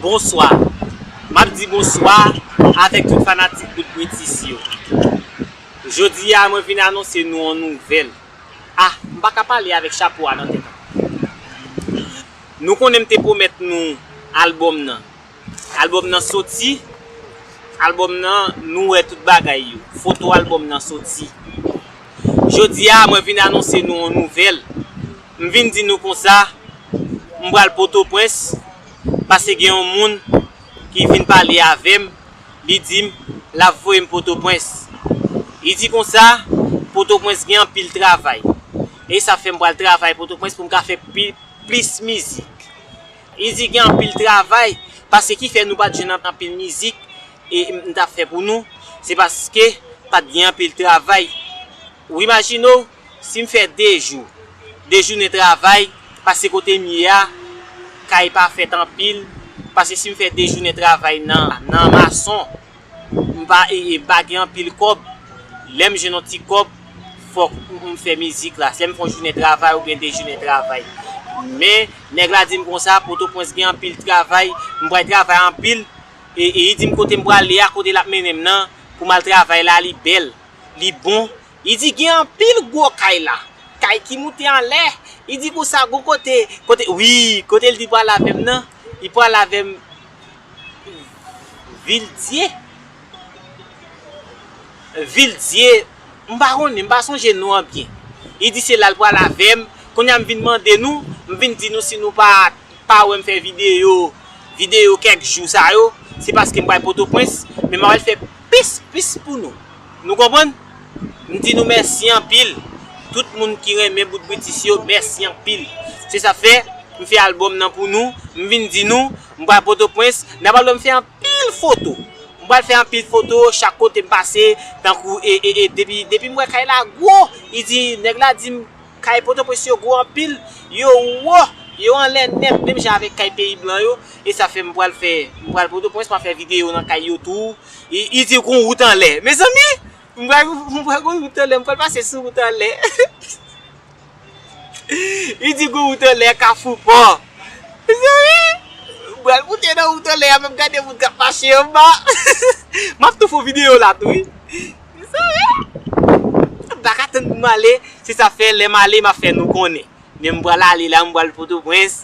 Bonswa Map di bonswa avèk tout fanatik bout britis yo Jodi a mwen vin anonse nou on nouvèl Ah m pa ka pale avèk chapo a nan tèt an Nou konnen m te pwomèt nou albòm nan Album nan soti, album nan nou wè tout bagay yo, foto album nan soti. Jodi a mwen vin anonse nou yon nouvèl, m vin di nou konsa m pral potoprens pase gen yon moun ki vin pale avèm li dim lap voyem potoprens li di konsa potoprens gen anpil travay e sa fèm pral travay potoprens poum ka fè plis mizik. Li di gen anpil travay paske ki fè nou pat jwenn anpil mizik m tap fè pou nou se paske pat gen anpil travay ou imajine w si m fè 2 jou 2 jounen travay paske kote m ye a kay pa fèt anpil paske si m fè 2 jounen travay nan mason M pa pa gen anpil kòb, lè m jwenn yon ti kòb fòk m fè mizik la, lè m fè yon jounen travay oubyen 2 jounen travay. Men nèg la di m konsa, Potopwens gen anpil travay, m pral travay anpil e li di m kote m prale a, kote l ap mennen m nan pou m al travay la li bèl, li bon. Li di gen anpil gwo kay la, kay ki moute anlè. Li di konsa gon kote, kote wi, kote l di pral avè m nan, li pral avè m. Vildie Vildie m pa konnen m pa sonje non an byen li di se la l pral avè m kounye a m vin mande nou m vin di nou si nou pa pa wè m fè videyo videyo kèk jou sa yo se paske m pral pòtoprens men m al fè plis plis pou nou nou konprann m di nou mèsi anpil tout moun ki renmen bout britis yo mèsi anpil se sa k fè m fè albòm nan pou nou m vin di nou M pral potopwens, n ap al wè m fè anpil foto. M pral fè anpil foto chak kote m pase, tankou e, e, e depi, depi m wè kay la gwo, li di, nèg la di m kay potopwens yo gwo anpil, yo wo, yo anlè nèt menm jan avèk kay peyi blan yo, e sa fè m pral fè, m pral potopwens m ap fè videyo nan kay yo tou, li di gon wout anlè, mezanmi! m pral, m pral gon wout anlè, m pral pase sou wout anlè. Li di gou wout anlè kafou pò. Mezanmi! M pral moute nan wout anlè a menm gade moun k ap mache anba. M ap tou fon videyo la tou wi. Mezanmi! M pa ka tann pou m ale. Se sa fè lè m ale m ap fè nou konnen. Men m pral ale la m pral Pòtoprens.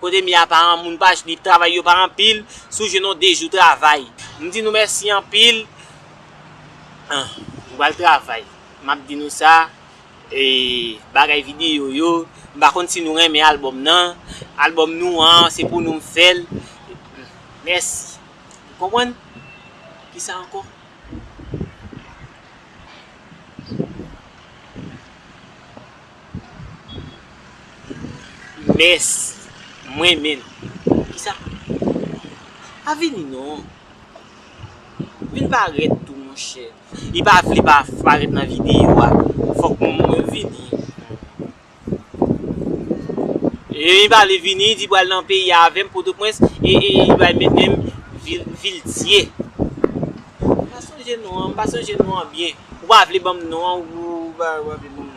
Kote mia pa an moun pa jnip travay yo pa anpil sou je non dejou travay m di nou mèsi anpil ah m pral travay map di nou sa eeh bagay video yo m pa konn si nou renmen album nan album nou an se pou nou m fèl mèsi ou konprann kisa ankò. Mès mwen menn kisa pa vini non vin parèt tou monchè li pa vle pa parèt nan video a fòk mwen vini li pa vle vini li di pral nan peyi a avèm potoprens e li pral met menm vil dye m pa sonje non an m pa sonje non an byen ou pa vle banm non an ou pa vle banm non an.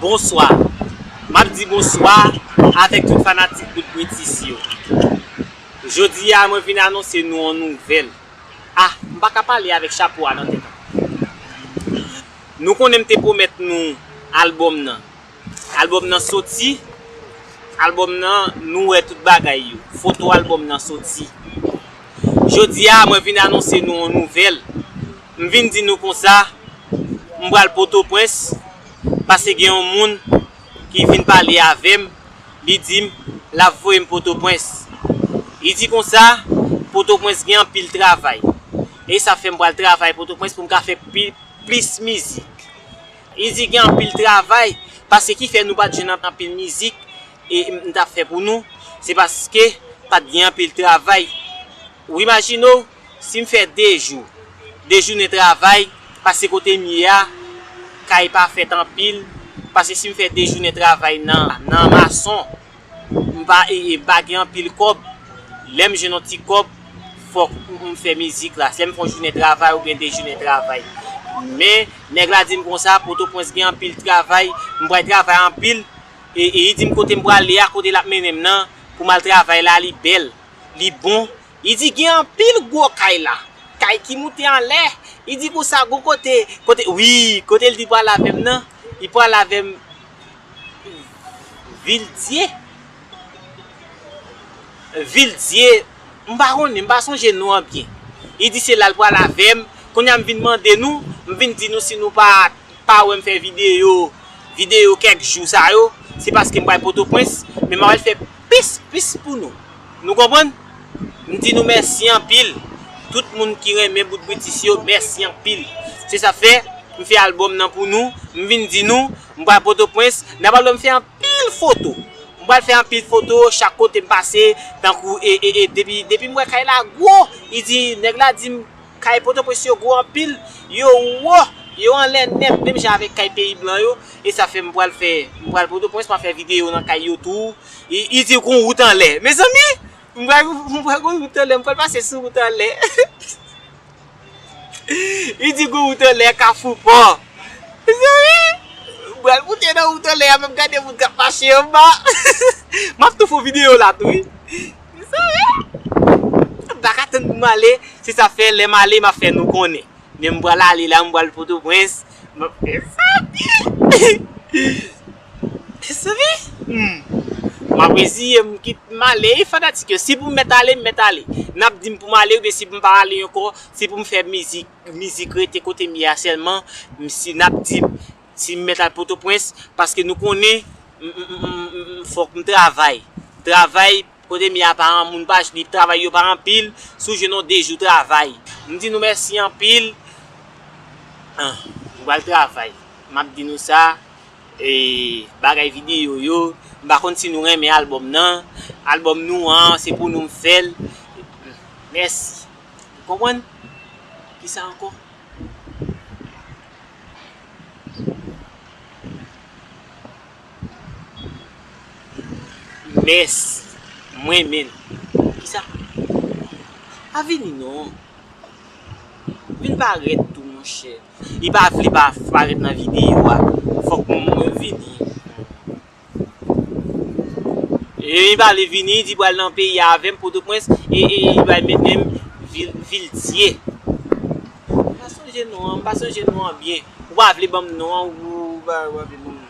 Bonswa Map di bonswa avèk tout fanatik bout britis yo Jodi a mwen vin anonse nou on nouvèl Ah m pa ka pale avèk chapo a nan tèt an Nou konnen m te pwomèt nou album nan Album nan soti, album nan nou wè tout bagay yo, foto album nan soti. Jodi a mwen vin anonse nou yon nouvèl, m vin di nou konsa m pral potoprens pase gen yon moun ki vin pale avèm li dim lap voyem potoprens li di konsa potoprens gen anpil travay e sa fèm pral travay potoprens poum ka fè plis mizik. Li di gen anpil travay paske ki fè nou pat jwenn anpil mizik m tap fè pou nou se paske pat gen anpil travay ou imajine w si m fè 2 jou 2 jounen travay paske kote m ye a kay pa fèt anpil paske si m fè 2 jounen travay nan mason M pa pa gen anpil kòb, lè m jwenn yon ti kòb fòk m fè mizik la, lè m fè yon jounen travay oubyen 2 jounen travay. Men, nèg la di m konsa, Potopwens gen anpil travay, m pral travay anpil e li di m kote m prale a, kote l ap mennen m nan pou m al travay la li bèl, li bon. Li di gen anpil gwo kay la, kay ki moute anlè. Li di konsa gon kote, kote, wi, kote l di pral avè m nan, li pral avè m. Vildie Vildie m pa konnen m pa sonje non an byen li di se la l pral avè m kounye a m vin mande nou m vin di nou si nou pa pa wè m fè videyo videyo kèk jou sa yo se paske m pral pòtoprens men m al fè plis plis pou nou nou konprann m di nou mèsi anpil tout moun ki renmen bout britis yo mèsi anpil se sa k fè m fè albòm nan pou nou m vin di nou M pral potopwens, n ap al wè m fè anpil foto. M pral fè anpil foto chak kote m pase, tankou e, e, e depi, depi m wè kay la gwo, li di, nèg la di m kay potopwens yo gwo anpil, yo wo, yo anlè nèt menm jan avèk kay peyi blan yo, e sa fè m pral fè, m pral potopwens m ap fè videyo nan kay yo tou, li di gon wout anlè, mezanmi! m pral, m pral gon wout anlè, m pral pase sou wout anlè. Li di gou wout anlè kafou pò. Mezanmi! M pral moute nan wout anlè a menm gade moun k ap mache anba. M ap tou fon videyo la tou wi. Mezanmi! M pa ka tann pou m ale. Se sa fè lè m ale m ap fè nou konnen. Men m pral ale la m pral Potoprens. Mezanmi! Mezanmi! Humm! M ap reziye m kit m ale wi fanatik yo. Si pou m mèt ale, m mèt ale. N ap di m pou m ale oubyen si pou m pa ale ankò, si pou m fè mizik, mizik rete kote m ye a sèlman, m si n ap di m si m mèt al Pòtoprens paske nou konnen m m m fòk m travay. Travay Kote mia pa an moun pa jnip travay yo pa anpil sou je non dejou travay m di nou mèsi anpil ah m pral travay map di nou sa eeh bagay video yo m pa konn si nou renmen album nan album nou an se pou nou m fèl mèsi ou konprann kisa ankò. Mès mwen menn kisa pa vini non vin parèt tou monchè li pa vle pa parèt nan video a fòk mwen vini li pa vle vini li di pral nan peyi a avèm potoprens e li pral mennenm vil dye m pa sonje non an m pa sonje non an byen ou pa vle banm non an ou pa vle banm non.